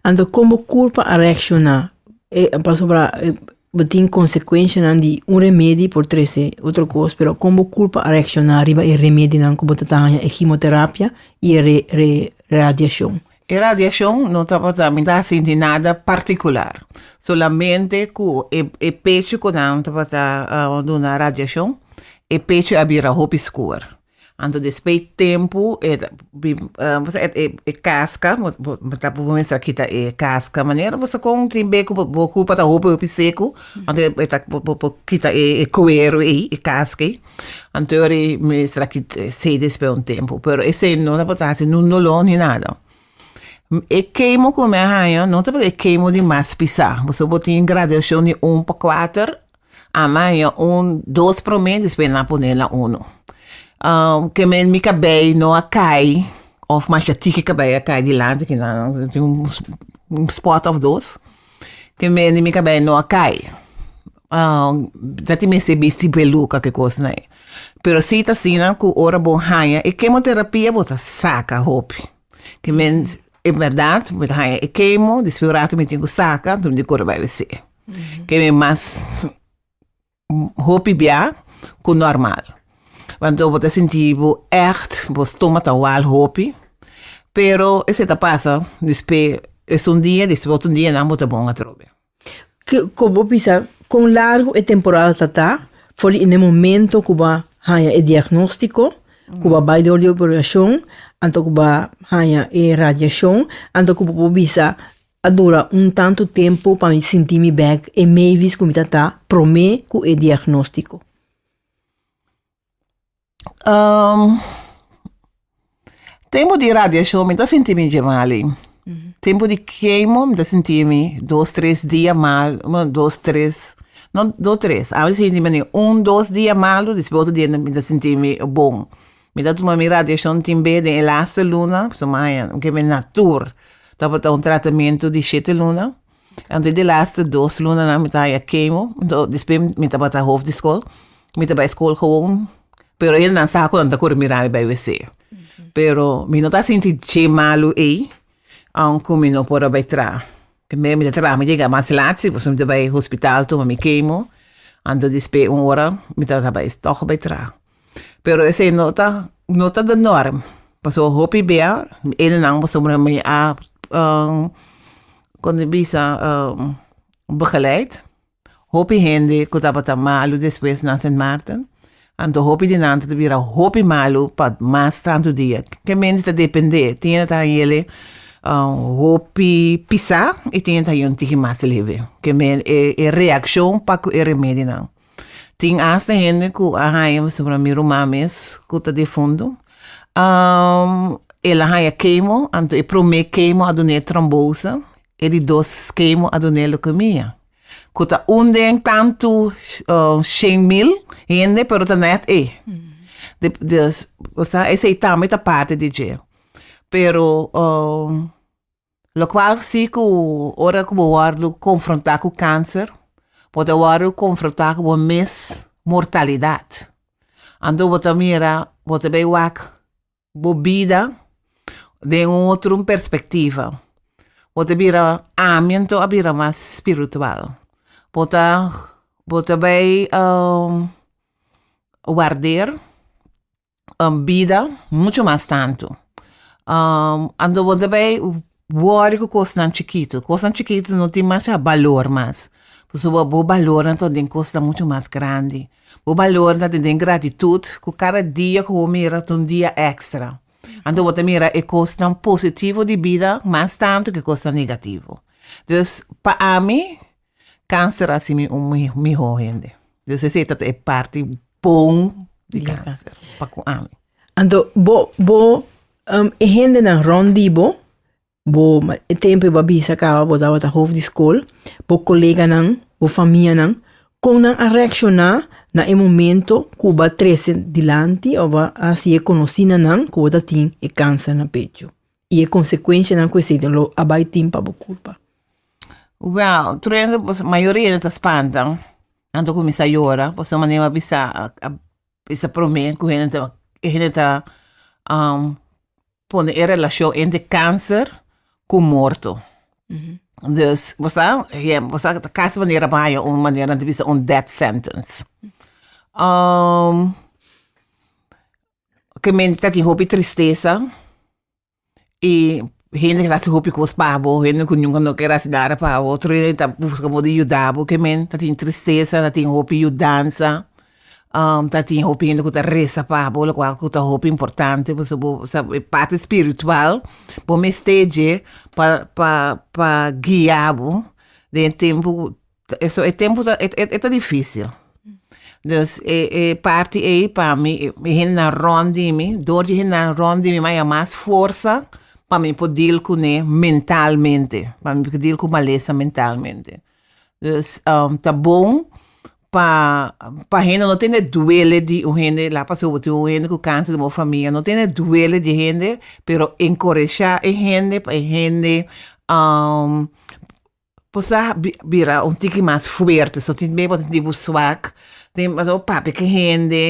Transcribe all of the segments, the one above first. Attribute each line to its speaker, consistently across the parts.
Speaker 1: Anto kon bo kur pa a reakshoná pasobra bo tin konsekuenshanan di un remedi por trese otro kos, pero kon bo kur pa a reakshoná riba e remedinan ku bo ta haña, e himoterapia i e radiashon? E radiashon no tabata mi ta sinti nada partikular, solamente ku e pechu ku nan tabata duna radiashon, e pechu a bira hopi skuer. Anto despues tempu e ta bin e kaska bo mester a kita e kaska manera boso kon tin be ku bo kulpa ta hopi hopi seku anto bo ta bo por kita e kuero ei e kaska ei anto ora ei mester a kita esei despues un tempu pero esei no ta por ta hasi un dolor ni nada e kemo ku mi a haña no ta por e kemo di mas pisa boso bo tin gradacion di un pa kuater. A maña un dos promé despues nan a pone la unu ke men mi kabei no a kai of masha tiki kabei a kai dilanti ke nan tin un spot of dos ke men di mi kabei no a kai ta tin mester bisti beluka ke kosnan ei pero si ta asina ku ora bo haña e kemoterapia bo ta saka hopi ke men e bèrdat mi ta haña e kemo despues un rato mi tin ku saka dor mi kore bai wc. ke mi mas hopi bia ku normal want bo ta sinti bo ègt bo stoma ta wal hopi pero esei ta pasa dispé es un dia dispé otro dia nan bo ta bon atrobe. Kon bo bisa kon largu e temporada ta ta for di e momento ku bo a haña e diagnóstiko ku bo a bai dor di operashon anto ku bo a haña e radiashon anto ku bo por bisa A dura un tantu tempu pa mi sinti mi bek e meivis ku mi ta ta promé ku e diagnóstiko. Tempu di radiashon mi ta sinti mi dje mali. Tempu di kemo mi ta sinti mi dos tres dia mal, bueno, dos tres, no dos tres, a mi ta sinti mi un dos dia malu, despues otro dia mi ta sinti mi bon. Mi ta tuma mi radiashon tin be den e laste luna, pasobra mi a haña un kende natur tabata un tratamentu di shete luna. Anto di e laste dos lunanan mi ta haña kemo, anto despues mi tabata hof di skol, mi ta bai skol gewoon, pero elnan sa ku nan ta kore mirami bai wc. Pero mi no ta sinti dje malu ei, aunke mi no por a bai traha. Primero mi ta traha, mi a yega mas lat, si pasobra mi ta bai hospital tuma mi kemo, anto despues un ora mi tabata bai tòg bai traha. Pero esei no ta no ta de norm pasobra hopi bia enenan pasobra mi a kon ta bisa begeleid hopi hende ku tabata malu despues na Sint Maarten anto hopi di nan ta bira hopi malu pa mas tantu dia ke mente ta depende tin ta heli hopi pisa y tin ta yu tiki mas leve ke men e e reakshon pa ku e remedinan. Tin asta hende ku a haña, por ejemplo mi ruman mes ku ta difuntu, el a haña kemo, anto e promé kemo a dun'é trombosa, e di dos kemo a dun'é leukemia, ku ta un den tantu shen mil hende, pero ta nèt e. Esei tambe ta parti di dje. Pero Locual si cu ora cu bo wordo confronta cu cancer, bo ta wordo confronta cu bo mes mortalidad. Anto bo ta mira, bo ta bay wak bo bida den otro perspectiva. Bo ta bira, ami anto a bira mas spiritual. Bo ta, bo ta bay warder. bida mucho mas tantu. Ando bo ta bay wòrì ku kosnan chikitu, kosnan chikitu no tin masha balor mas, pasobra bo bo balor ta den e kosnan mucho mas grandi, bo balor ta den e gratitut ku kada dia ku bo mira ta un dia èkstra, anto bo ta mira e kosnan positivo di bida mas tantu ku e kosnan negativo, dus pa ami Cancer a simi un miho hende. Des esey ta ta e parti bon di cancer pa cu ami. Anto bo bo um e hendenan rond di bo, bo e tempo bo a bisa caba bo tabata hof di school, bo coleganan, bo famianan, con nan a reacciona na e momento cu bo a trece dilanti o bo a haci e conoci na nan cu bo ta tin e cancer na pecho? I e konsekuenshanan ku esei lo a bai tin pa bo kulpa. Wèl, truendo pues mayoria hende ta spanta, nan ta kuminsá yora, pasobra Maneo a bisa, a bisa promé ku hende ta e hende ta pone e relashon entre kanser ku morto. Dus bo sa bo sa kas manera bo haña un manera nan ta bisa un death sentence. Ke mente ta tin hopi tristesa i hende tabata hasi hopi kos pa bo, hende ku nunka no ker hasi nada pa bo, otro hende ta buska mo di yuda bo, ke men ta tin tristesa, ta tin hopi yudansa, ta tin hopi hende ku ta resa pa bo, lokual ku ta hopi importante, pasobra bo sa e parti spiritual bo mester dje pa pa pa guia bo den e tempu So e tempu ta e ta dificil dus e e parti ei pa mi e hendenan rond di mi door di hendenan rond di mi maya mas forsa pa mi por deal cune mentalmente pa mi por deal cu malesa mentalmente dus ta bon pa pa hende no tin e duele di un hende laga pasobra bo tin un hende cu cancer den bo famia no tin e duele di hende pero encoresha e hende pa e hende Bo sa bira un tiki mas fuerte, so tin mei bo ta sinti bo swak, tin pasobra papia ki hende,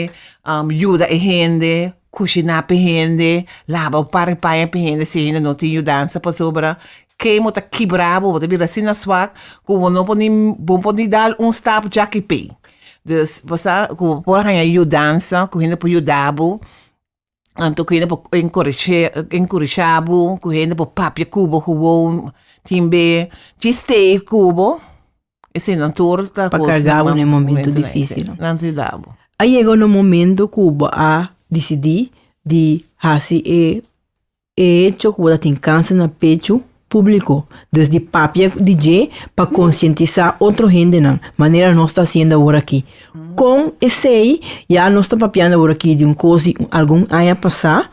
Speaker 1: yuda e hende, kushiná pa e hende, laba un par di paña pa e hende si e hende no tin yudansa pasobra ke mo ta kibra bo, bo ta bira asina swak ku bo no por ni bo por ni dal un stap djaki p'ei, dus bo sa ku bo por haña yudansa ku hende por yuda bo. Anto ku hende por enkuresha bo, ku hende por papia ku bo gewoon tin be chist'é ku bo, eseinan tur ta kos. Pa karga bo na e momentu difísilnan, esei nan ta yuda bo. A yega un momentu ku bo a disidí di hasi e E hecho cu bo ta tin cancer na pechu, publico, dus di papia di dje pa concientisa otro hendenan, manera nos ta haciendo awor aki. Con esey, ya nos ta papiando awor aki di un cosi algun aña pasa,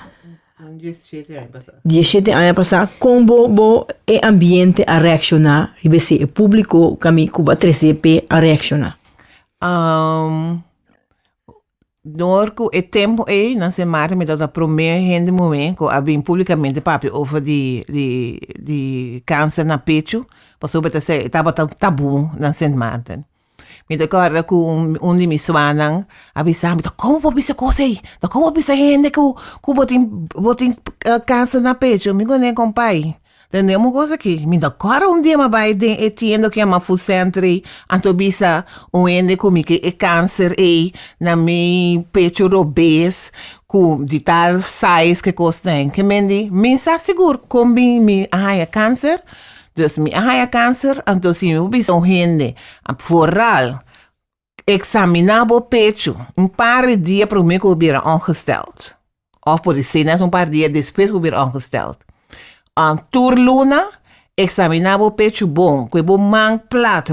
Speaker 1: di e shete aña pasa, con bo, bo, e ambiente a reacciona riba esey, e publico, cami cu bo a trece pe a reacciona. Dor cu e tempo ey, nan se mari mi tabata prome hende muhe cu a bin publicamente papia over di, di, di cancer na pechu, pasobra e ta ser, e tabata un tabu nan se marten. Mi ta acorda cu un, un di mi suanan a bisa mi, ta como bo bisa cos ey? Ta como bo bisa hende cu, cu bo tin, bo tin cancer na pechu? Mi gunen compay, Tende un kos aki, mi ta kòrda un dia mi a bai den e tienda ku yama Food Centre ei, anto bisa un hende ku mi ke e kanser ei na mi pecho robes ku di tal size kikos t'en ke men di mi sa sigur kon bin mi a haña kanser? Dus mi a haña kanser, anto si mi por bisa un hende foral Eksaminá bo pechu un par di dia promé ku bo bira ongestèld, òf por di sey nèt un par dia despues ku bo bira ongestèld. Tur luna, eksaminá bo pechu bon, ku e bo man plat,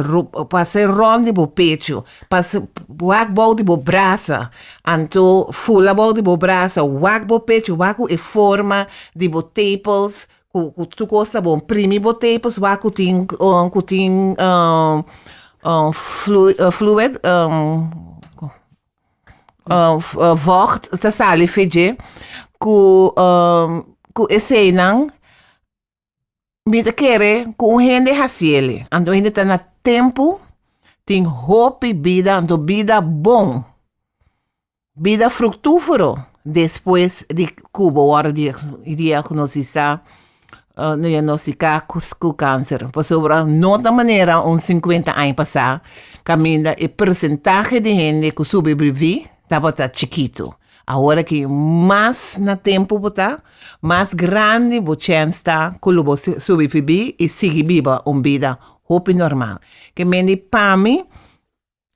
Speaker 1: pasá e rònt di bo pechu, pas wak bou di bo brasa, anto fula bou di bo brasa, wak bo pechu, wak ku e forma di bo tepels, Cu tu cosa bon primi bo tapes wak cu tin cu tin fluid vocht ta sali fe dje cu cu esey nan mi ta kere cu un hende haciele anto un hende ta na tempo tin hopi bida anto bida bon. Bida fruktúfero despues di ku bo wòrdu diagnostisá, diagnostiká ku kanser. Pasobra no ta manera un sinkuenta aña pasá kaminda e persentahe di hende ku sobreviví tabata chikitu. Awor aki mas na tempu bo ta, mas grandi bo chèns ta ku lo bo sobreviví i sigui biba un bida hopi normal. Ke men di pa mi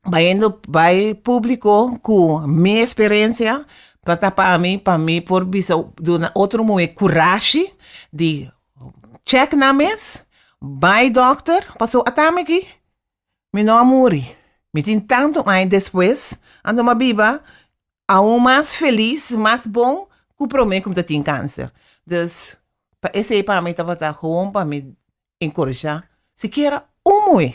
Speaker 1: bayendo bay publico cu mi experiencia ta ta pa mi pa mi por bisa duna otro muhe curashi di check nan mes bay doctor pasobra a ta migi mi no a muri mi tin tanto aña despues anto mi a biba aun mas feliz mas bon cu prome cu mi ta tin cancer dus pa esey pa mi tabata bon pa mi encorajá sikiera un muhé.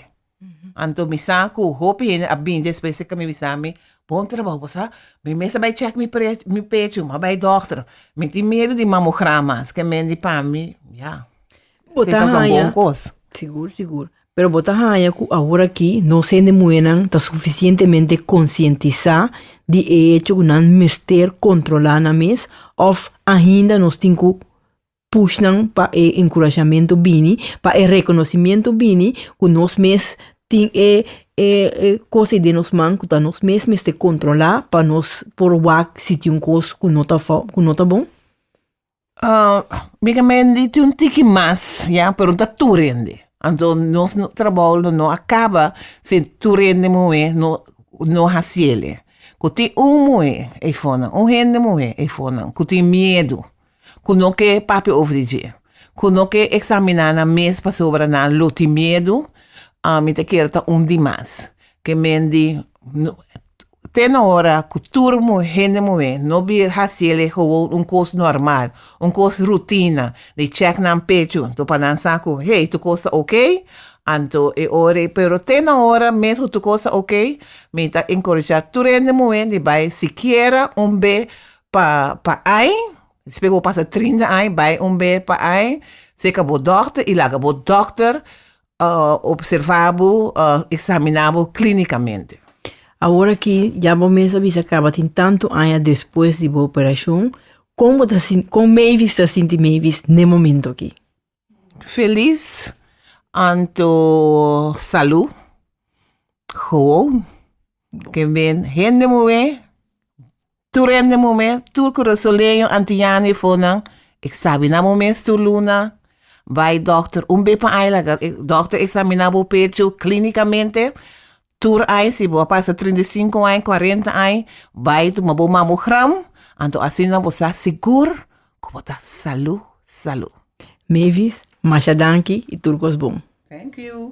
Speaker 1: Anto mi sa ku hopi hende a bini despues seka mi bisa mi, bon trabou, bo sa mi mes a bai chèk mi prech- mi pechu, ma bai dòkter, mi tin miedu di mamograma, esaki mende pa mi, ya, Bo ta seta ta un haña, bon kos. sigur, sigur, pero bo ta haña ku awor aki nos hende muhénan ta sufisientemente konsientisá di e hecho ku nan mester kontrolá nan mes òf ainda nos tin ku push nan pa e enkurashamentu bini, pa e rekonosimientu bini ku nos mes tin e kos ei den nos man ku ta nos mes mester kontrolá pa nos por wak si tin un kos ku no ta ku no ta bon? Mi kamen di tin un tiki mas, ya, pero no ta tur hende. Anto nos trabou lo no a kaba si tur hende muhé no no hasiel e. Ku tin un muhé ei for nan, un hende muhé ei for nan ku tin miedu ku no ke papia over di dje, ku no ke eksaminá nan mes pasobra nan lo tin miedu, mi ta kere ta un di mas. Ke men di, Te na ora ku tur hende muhé no bir hasi el e gowon un kos normal, un kos rutina di chèk nan pechu anto pa nan sa ku hey tur kos ta okey, anto e ora ei. Pero te na ora mes ku tur kos ta okey, mi ta enkorejá tur hende muhé di bai sikiera un be Pa pa ai, despues ku bo pasa trinta ai, bai un bes pa ai, seka bo dòkter i laga bo dòkter observá bo, eksaminá bo klínikamente. Awor aki, ya bo mes a bisa kaba tin tantu aña despues di bo operashon, kon bo ta sinti, kon Mavis ta sinti, Mavis, n'e momentu aki? Feliz anto salu gewoon ke men hende muhé tur hende muhé tur curasoneño antiñano e fonan e sabi nan bo mes tur luna bai doctor un be pa ai laga doctor examina bo pecho clinicamente Tur aña si bo a pasa trinta i sinku aña, kuarenta aña, bai tuma bo mamogram, anto asina bo sa sigur ku bo ta salú, salú. Mavis, masha danki i tur kos bon. Thank you.